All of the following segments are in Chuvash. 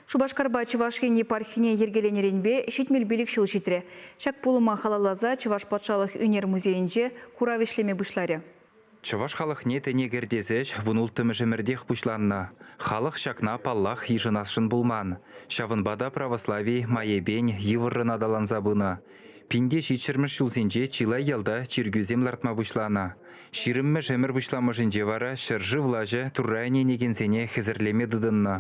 Шупашкарпа Чӑваш Ен епархине йӗркеленӗренпе ҫитмӗл пилӗк ҫул ҫитрӗ. Ҫак пулӑма халалласа Чӑваш патшалӑх ӳнер музейӗнче курав ӗҫлеме пуҫларӗ. Чӑваш халӑхне тӗне кӗртес ӗҫ вун улттӑмӗшӗмӗртех пуҫланнӑ. Халӑх ҫакна, паллах, йышӑнасшӑн пулман. Ҫавӑнпа та православи майӗпен йывӑррӑн аталанса пынӑ. Пинте ҫичҫӗмӗш ҫулсенче чылай ялта чиркӳсем лартма пуҫланӑ. Ҫирӗммӗш ӗмӗр пуҫламӑшӗнче вара ҫӗршыв влаҫӗ Турра ӗненекенсене хӗсӗрлеме тытӑннӑ.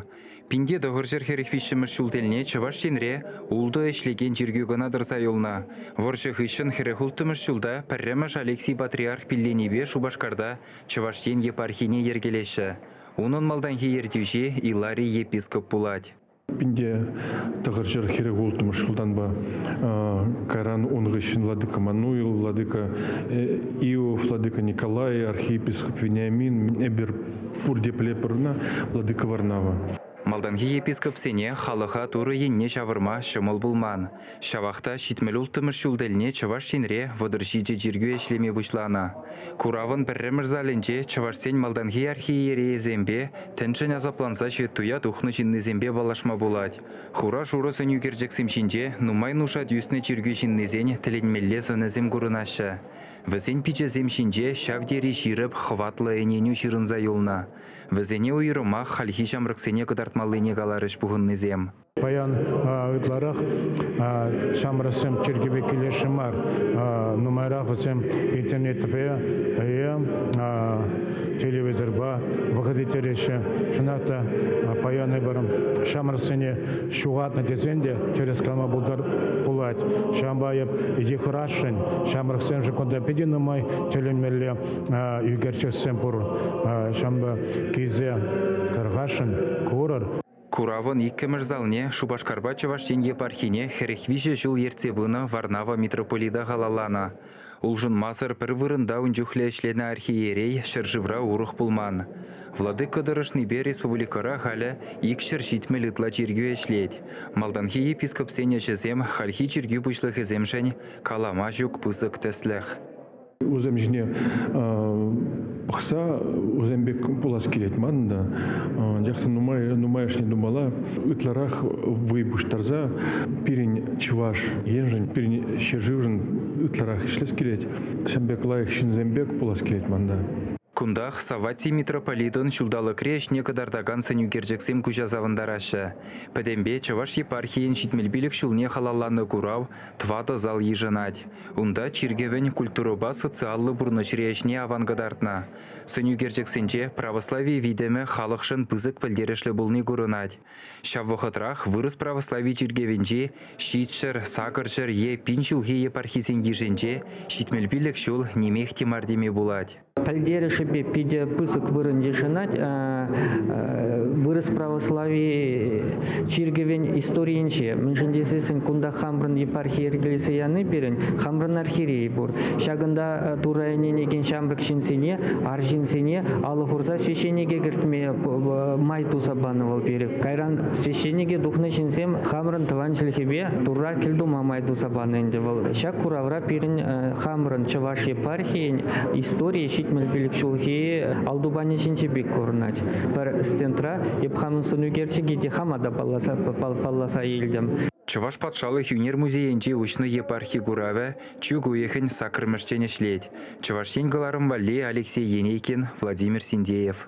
Пинте тӑхӑрҫӗр хӗрӗх виҫҫӗмӗш ҫул тӗлне Чӑваш Енре ултӑ ӗҫлекен чиркӳ кӑна тӑрса юлнӑ. Вӑрҫӑ хыҫҫӑн хӗрӗх улттӑмӗш ҫулта пӗрремӗш Алексий патриарх пилленипе Шупашкарта Чӑваш Ен епархине йӗркелеҫҫӗ. Унӑн малтанхи ертӳҫи Иларий епископ пулать. Ӗнтӗ тӑхӑрҫӗр хӗрӗх улттӑмӗш султанпа кайран ун хыҫҫӑн владыка Мануил, владыка Иов, владыка Николай, архиепископ Вениамин, эпир пурте пӗлепӗр владыка Варнава. Малтанхи епископсене халӑха Турӑ енне ҫавӑрма ҫӑмӑл пулман. Ҫавах та ҫитмӗл улттӑмӗш ҫул тӗлне Чӑваш Енре вӑтӑр ҫичӗ чиркӳ ӗҫлеме пуҫланӑ. Куравӑн пӗрремӗш залӗнче чӑвашсен малтанхи архиерейӗсемпе, тӗншӗн асапланса ҫветтуя тухнӑ ҫыннисемпе паллашма пулать. Хура-шурӑ сӗнӳкерчӗксем ҫинче нумай нушать ӳснӗ чиркӳ ҫыннисен тӗлӗнмелле сӑнӗсем курӑнаҫҫӗ. Вӗсен пичӗсем ҫинче ҫав тери ҫирӗп, хӑватлӑ ӗненӳ ҫырӑнса юлнӑ. Вӗсене уйрӑмах хальхи ҫамрӑксене кӑтартмаллине каларӗҫ пухӑннисем. Паян ытларах ҫамрӑксем чиркӗве килесшӗ мар. Нумайрах вӗсем интернетпе, телевизорпа вӑхӑт ирттереҫҫӗ. Чӑнах та паян эпир ҫамрӑксене ҫухатнӑ тесен те тӗрӗс калама пулать. Ҫавӑнпа эп йыхӑрасшӑн. Ҫамрӑксемшӗн кунта питӗ нумай тӗлӗнмелле ӳкерчӗксем пур. Ҫавӑнпа килсе тархасшӑн, курӑр. Куравӑн иккӗмӗш залне Шупашкарпа Чӑваш Ен епархине хӗрӗх виҫӗ ҫул ертсе пынӑ Варнава митрополита халалланӑ. Улшӑнмасӑр пӗр вырӑнта ун чухлӗ ӗҫленӗ архиерей ҫӗршывра урӑх пулман. Владыка тӑрӑшнипе республикӑра халӗ икҫӗр ҫитмӗл ытла чиркӳ ӗҫлет. Малтанхи епископсен ӗҫӗсем хальхи чиркӳ пуҫлӑхӗсемшӗн калама ҫук пысӑк тӗслӗх. Усем ҫине пӑхса усем пек пулас килет манӑн та. Анчах та нумай нумайӑшне тумалла ытларах вӑй пуҫтарса пирӗн чӑваш еншӗн, пирӗн ҫӗршывшӑн ытларах ӗҫлес килет. Ҫын пек лайӑх ҫынсем пек пулас килет манта. Кунтах Саватти митрополитӑн ҫулталӑкри ӗҫне кӑтартакан сӗнӳкерчӗксем куҫа савӑнтараҫҫӗ. Пӗтӗмпе Чӑваш епархийӗн ҫитмӗл пилӗк ҫулне халалланӑ курав Тӑватӑ зал йышӑнать. Унта чиркӗвӗн культурӑпа социаллӑ пурнӑҫри ӗҫне аван кӑтартнӑ. Сӑнӳкерчӗксенче православи витӗмӗ халӑхшӑн пысӑк пӗлтерӗшлӗ пулни курӑнать. Ҫав вӑхӑтрах вырӑс православи чиркӗвӗнчи ҫичҫӗр, сакӑрҫӗр е пин ҫулхи епархисен йышӗнче ҫитмӗл пилӗк ҫул нимех те мар теме пулать. пӗлтерӗшӗпе питӗ пысӑк вырӑн йышӑнать э, э, вырӑс православи чиркӗвӗн историйӗнче. Мӗншӗн тесессӗн кунта хамрӑн епархи йӗркелесе яни пирӗн хамрӑн архиерей пур. Ҫакӑнта э, Турра ӗненекен ҫамрӑк ҫынсене, арҫынсене алӑ хурса священнике кӗртме май туса панӑ вӑл пирӗн. Кайран священнике тухнӑ ҫынсем хамрӑн тӑван чӗлхепе Турра кӗлтума май туса панӑ ӗнтӗ вӑл. Ҫак куравра пирӗн хамрӑн чӑваш епархи Чӑваш Ен историйӗ ҫитмӗл пилӗк ҫулхи Алтупанӗ ҫинчи пек курӑнать. Пӗр стендра Епхамӑн сӑнӳкерчӗкӗ те хама та палласа, палласа илтӗм. Чӑваш патшалӑх ӳнер музейӗнче уҫнӑ епархи куравӗ чӳк уйӑхӗн саккӑрмӗшчен ӗҫлет. Чӑваш Ен кӑларӑм валли Алексей Енейкин, Владимир Синдеев.